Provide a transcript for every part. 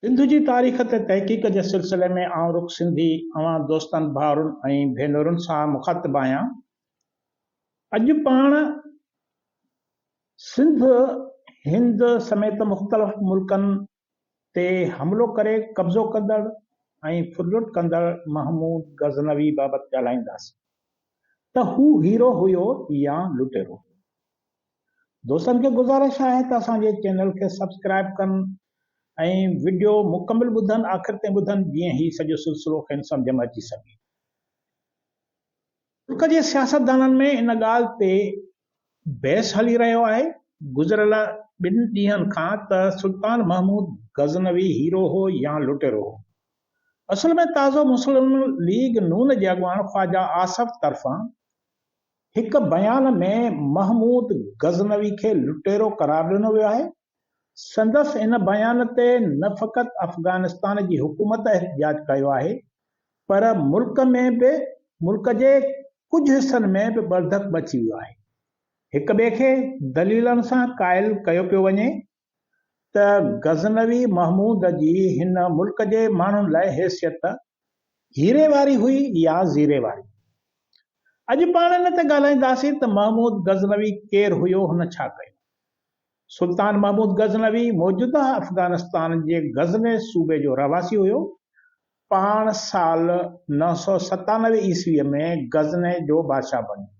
سنڌ جي تاريخ تي تحقيق جي سلسلي ۾ آئون رخ سنڌي اوهان دوستن ڀائرن ۽ ڀينرن سان مخاطب آهيان. اڄ پاڻ سنڌ هند سميت مختلف ملڪن تي حملو ڪري قبضو ڪندڙ ۽ ڦرلٽ ڪندڙ محمود غزنوي بابت ڳالهائينداسين ته هو هيرو هيو يا لٽيرو هيو. دوستن کي گذارش آهي ته اسان جي چينل کي سبسڪرائيب ڪن ۽ وڊيو مڪمل ٻڌن آخر تائين ٻڌن جيئن هي سڄو سلسلو کين سمجهه ۾ اچي سگهي. ترڪ جي سياستدانن ۾ ان ڳالهه تي بحث هلي رهيو آهي گذريل ٻن ڏينهن کان ته سلطان محمود غزنوي هيرو هو يا لٽيرو هو. اصل ۾ تازو مسلم ليگ نون جي اڳواڻ خواجه آصف طرفان هڪ بيان ۾ محمود غزنوي کي لٽيرو قرار ڏنو ويو آهي. سندس ان بيان تي نه فقط افغانستان جي حڪومت احتجاج ڪيو آهي پر ملڪ ۾ به ملڪ جي ڪجهه حصن ۾ به ٻرڌڪ مچي ويو آهي. هڪ ٻئي کي دليلن سان قائل ڪيو پيو وڃي ته غزنوي محمود جي هن ملڪ جي ماڻهن لاء حيثيت هيري واري هئي يا زيري واري. اڄ پاڻ ان تي ڳالهائينداسين ته محمود غزنوي ڪير هيو هن ڇا ڪيو. سلطان محمود غزنوي موجوده افغانستان جي غزني صوبي جو رهواسي هيو پاڻ سال نو سؤ ستانوي عيسويء ۾ غزني جو بادشاهه بڻيو.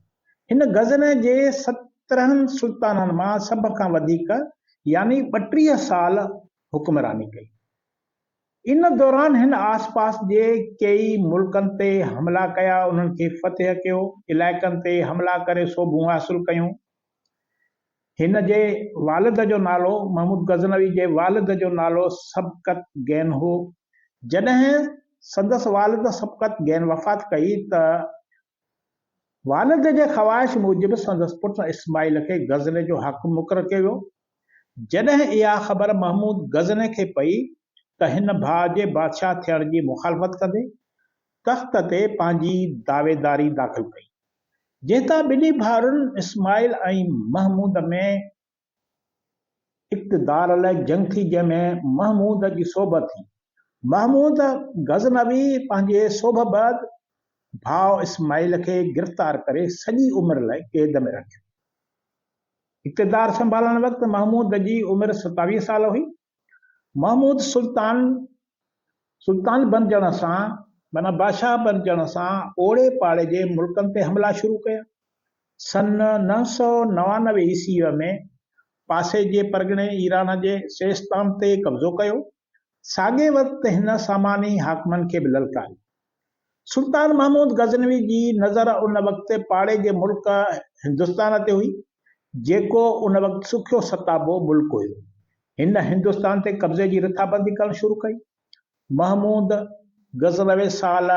هن غزني جي سترهن سلطانن مان سڀ کان وڌيڪ يعني ٻٽيهه سال حڪمراني ڪئي. ان دوران هن آسپاس جي ڪيئي ملڪن تي حملا ڪيا، انهن کي فتح ڪيو، علائقن تي حملا ڪري سوڀون حاصل ڪيون. هن جي والد جو نالو محمود غزنوي جي والد جو نالو سبقت گين هو. جڏهن سندس والد سبقت گين وفات ڪئي ته والد جي خواهش موجب سندس پٽ اسماعيل کي غزني جو حاڪم مقرر ڪيو ويو. جڏهن اها خبر محمود غزني کي پئي ته هن ڀاء جي بادشاهه ٿيڻ جي مخالفت ڪندي تخت تي پنهنجي دعويداري داخل ڪئي، جنهن تان ٻنهي ڀائرن اسماعيل ۽ محمود ۾ اقتدار لاء جنگ ٿي، جنهن ۾ محمود جي سوڀ ٿي. محمود غزنوي پنهنجي سوڀ بعد ڀاء اسماعيل کي گرفتار ڪري سڄي عمر لاء قيد ۾ رکيو. اقتدار سنڀالڻ وقت محمود جي عمر ستاويهه سال هئي. محمود سلطان سلطان بنجڻ سان معنيٰ بادشاهه بنجڻ سان اوڙي پاڙي جي ملڪن تي حملا شروع ڪيا. سن نو سؤ نوانوي عيسويء ۾ پاسي جي پرڳڻي ايران جي سيستان تي قبضو ڪيو. ساڳئي وقت هن ساماني حاڪمن کي به للڪاريو. سلطان محمود غزنوي جي نظر ان وقت پاڙي جي ملڪ هندستان تي هئي، جيڪو ان وقت سکيو ستابو ملڪ هيو. هن هندستان تي قبضي جي رٿابندي ڪرڻ شروع ڪئي. محمود غزنوي سال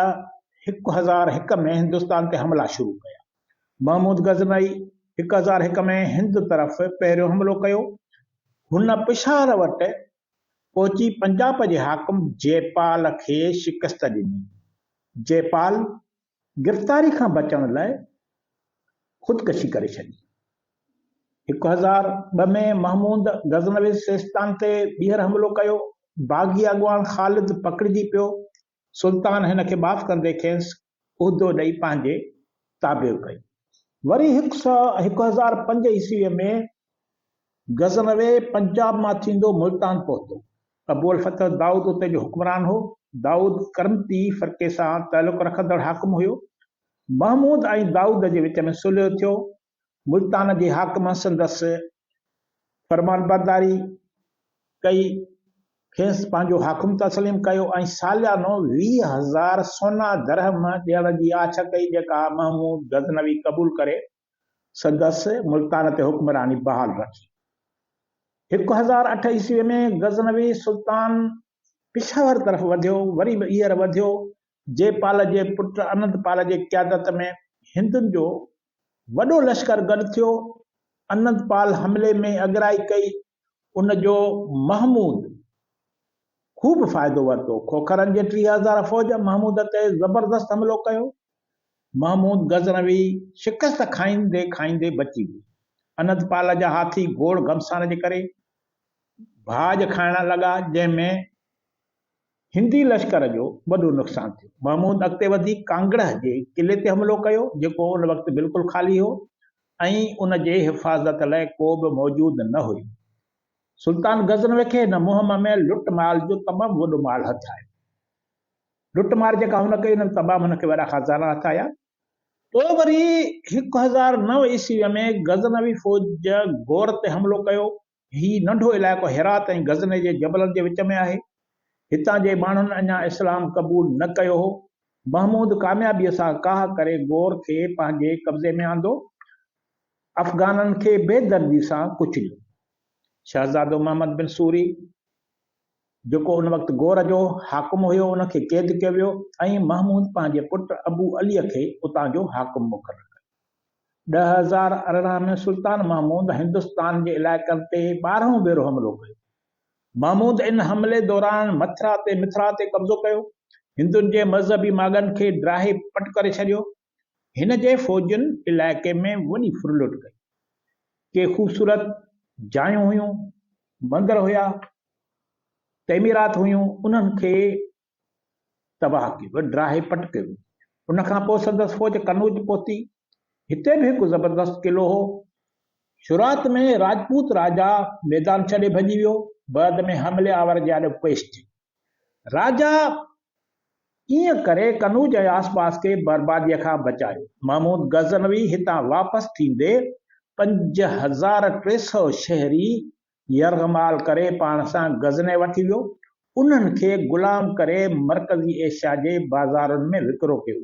هڪ هزار هڪ ۾ هندستان تي حملا شروع ڪيا. محمود غزنوي هڪ هزار هڪ ۾ هند طرف پهريون حملو ڪيو. هن پشاور وٽ پهچي پنجاب جي حاڪم جئپال کي شڪست ڏني. جئپال گرفتاري کان بچڻ لاء خودڪشي ڪري ڇڏي. هڪ هزار ٻه ۾ محمود غزنوي سيستان تي ٻيهر حملو ڪيو. باغي اڳواڻ خالد پڪڙجي پيو. سلطان هن کي معاف ڪندي کيس عهدو ڏئي پنهنجي تابع ڪئي. وري هڪ سؤ هڪ هزار پنج عيسويء ۾ غزنوي پنجاب مان ٿيندو ملتان پهتو. ابو الفتح دائود اتي جو حڪمران هو. دائود ڪرمتي فرقي سان تعلق رکندڙ حاڪم هيو. محمود ۽ دائود جي وچ ۾ صلح ٿيو. ملتان جي حاڪم سندس فرمانبرداري ڪئي، کيس پنهنجو حاڪم تسليم ڪيو ۽ ساليانو ويهه هزار سونا درهم ڏيڻ جي آڇ ڪئي، جيڪا محمود غزنوي قبول ڪري سندس ملتان تي حڪمراني بحال رکي. هڪ هزار اٺ عيسويء ۾ غزنوي سلطان پشاور طرف وڌيو، وري به ايئر وڌيو، جي پال جي پٽ انند پال جي قيادت ۾ هندن جو وڏو لشڪر گڏ ٿيو، انندپال حملي ۾ اڳرائي ڪئي، ان جو محمود خوب فائدو ورتو، کوکرن جي ٽيهه هزار فوج محمود تي زبردست حملو ڪيو، محمود غزنوي شڪست کائيندي کائيندي بچي ويو، انندپال جا هاٿي گوڙ گهمسان جي ڪري ڀاڄ کائڻ لڳا، جنهن ۾. هندي لشڪر جو وڏو نقصان ٿيو. محمود اڳتي وڌي ڪانگڙهه جي قلعي تي حملو ڪيو، جيڪو ان وقت بلڪل خالي هو ۽ ان جي حفاظت لاء ڪو به موجود نه هيو. سلطان غزنوي کي هن مهم ۾ لٽ مال جو تمام وڏو مال هٿ آيو. لٽ مار جيڪا هن ڪئي، ان ۾ تمام هن کي وڏا خزانا هٿ آيا. پوء وري هڪ هزار نو عيسويء ۾ غزنوي فوج غور تي حملو ڪيو هي ننڍو علائقو هرات ۽ غزني جي جبلن جي وچ ۾ آهي. هتان جي ماڻهن اڃا اسلام قبول نه ڪيو هو. محمود ڪاميابيء سان ڪاهه ڪري غور کي پنهنجي قبضي ۾ آندو. افغانن کي بي دردي سان ڪچليو. شهزادو محمد بن سوري جيڪو ان وقت غور جو حاڪم هيو ان کي قيد ڪيو ويو ۽ محمود پنهنجي پٽ ابو عليء کي اتان جو حاڪم مقرر ڪيو. ڏهه هزار ارڙهن ۾ سلطان محمود هندستان جي علائقن تي ٻارهون ڀيرو حملو ڪيو. محمود ان حملي دوران مٿرا تي Mithra تي قبضو ڪيو. هندن جي مذهبي ماڳن کي ڊاهي پٽ ڪري ڇڏيو. هن جي فوجن علائقي ۾ وڏي ڦرلٽ ڪئي. ڪي خوبصورت جايون هيون، مندر هيا، تعميرات هيون، انهن کي تباهه ڪيو، ڊاهي پٽ ڪيو. ان کان پوء سندس فوج قنوج پهتي. هتي به هڪ زبردست قلعو هو. شروعات ۾ راجپوت راجا ميدان ڇڏي ڀڄي ويو، بعد ۾ حملي آور جي آڏو پيش ٿيو. راجا ائين ڪري قنوج ۽ آسپاس کي برباديء کان بچايو. محمود غزنوي هتان واپس ٿيندي پنج هزار ٽي سؤ شهري يرغمال ڪري پاڻ سان غزني وٺي ويو، انهن کي غلام ڪري مرڪزي ايشيا جي بازارن ۾ وڪرو ڪيو.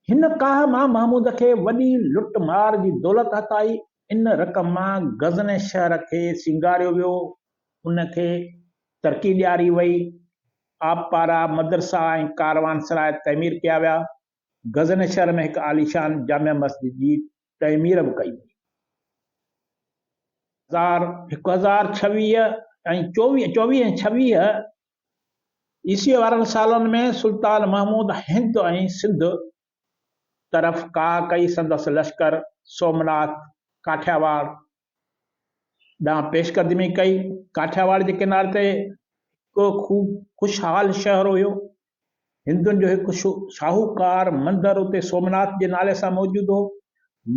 هن ڪاهه مان محمود کي وڏي لٽ مار جي دولت هٿائي، ان رقم مان غزني شهر کي سينگاريو ويو، ان کي ترقي ڏياري وئي، آبپارا، مدرسا ۽ ڪاروانسراء تعمير ڪيا ويا، غزني شهر ۾ هڪ عاليشان جامع مسجد جي تعمير به ڪئي وئي. هزار هڪ هزار ڇويهه ۽ چوويهه، چوويهه ۽ ڇويهه عيسويء وارن سالن ۾ سلطان محمود هند ۽ سنڌ طرف ڪاهه ڪئي سندس لشڪر سومناٿ، ڪاٺياواڙ، ڏانهن پيشقدمي ڪئي. ڪاٺياواڙ جي ڪناري تي هڪ خوب خوشحال شهر هيو. هندن جو هڪ شاهوڪار مندر اتي سومناٿ جي نالي سان موجود هو.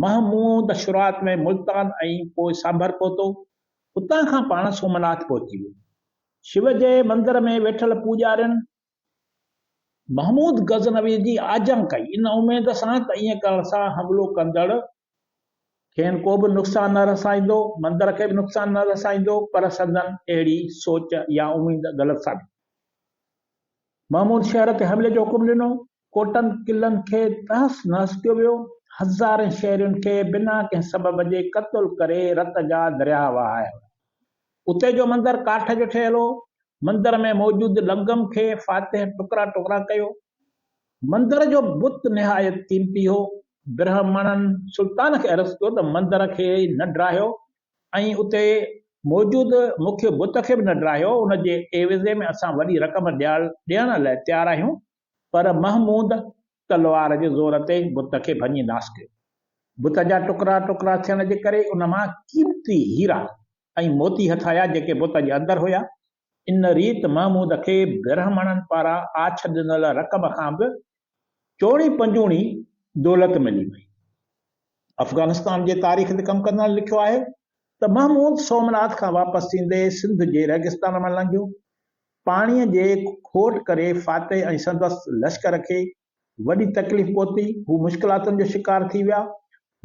محمود شروعات ۾ ملتان ۽ پوء سانڀر پهتو. اتان کان پاڻ سومناٿ پهچي ويو. شو جي مندر ۾ ويٺل پوڄارين محمود غزنوي جي آجيان ڪئي، ان اميد سان ته ائين ڪرڻ سان حملو ڪندڙ کين ڪو به نقصان نه رسائيندو، مندر کي به نقصان نه رسائيندو، پر سندن اهڙي سوچ يا اميد غلط ثابت ٿي. محمود شهر تي حملي جو حڪم ڏنو، ڪوٽن قلعن کي تهس نهس ڪيو ويو، هزارين شهرين کي بنا ڪنهن سبب جي قتل ڪري رت جا درياهه وهايا ويا. اتي جو مندر ڪاٺ جو ٺهيل هو، مندر ۾ موجود لنگم کي فاتح ٽڪرا ٽڪرا ڪيو. مندر جو بت نهايت قيمتي هو. برهمڻن سلطان کي عرض ڪيو ته مندر کي نه ڊاهيو ۽ اتي موجود مکيه بت کي به نه ڊاهيو، ان جي عيوضي ۾ اسان وڏي رقم ڏيڻ لاء تيار آهيون. پر محمود تلوار جي زور تي بت کي ڀڃي ناس ڪيو. بت جا ٽڪرا ٽڪرا ٿيڻ جي ڪري ان مان قيمتي هيرا ۽ موتي هٿ آيا، جيڪي بت جي اندر هيا. ان ريت محمود کي برهمڻن پاران آڇ ڏنل رقم کان به چوڻي پنجوڻي دولت ملي وئي. افغانستان جي تاريخ تي ڪم ڪندڙن لکيو آهي ته محمود سومناٿ کان واپس ٿيندي سنڌ جي ريگستان مان لنگهيو. پاڻيء جي کوٽ ڪري فاتح ۽ سندس لشڪر کي وڏي تڪليف پهتي. هو مشڪلاتن جو شڪار ٿي ويا.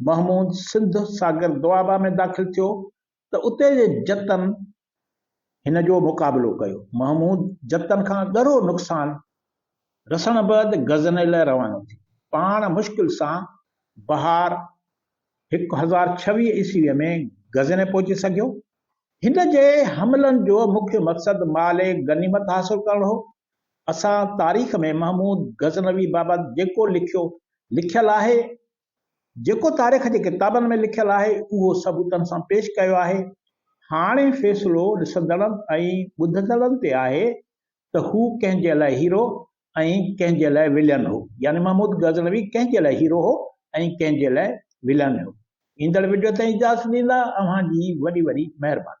محمود سنڌ ساگر دوآبه ۾ داخل ٿيو ته اتي جي جتن هن جو مقابلو ڪيو. محمود جتن کان ڳرو نقصان رسڻ بعد غزني لاء روانو ٿيو. پاڻ مشڪل سان بهار هڪ هزار ڇويهه عيسويء ۾ غزني پهچي سگهيو. هن جي حملن جو مکيه مقصد مال غنيمت حاصل ڪرڻ هو. اسان تاريخ ۾ محمود غزنوي بابت جيڪو لکيو، لکيل آهي، جيڪو تاريخ جي ڪتابن ۾ لکيل آهي اهو ثبوتن سان پيش ڪيو آهي، هاڻي فيصلو ڏسندڙن ۽ ٻڌندڙن تي آهي ته هو ڪنهن جي لاء هيرو ۽ ڪنهن جي لاء ولين هو، يعني محمود غزنوي ڪنهن جي لاء هيرو هو ۽ ڪنهن جي لاء ولين هو. ايندڙ وڊيو تائين اجازت ڏيندا اوهان جي وڏي وڏي مهرباني.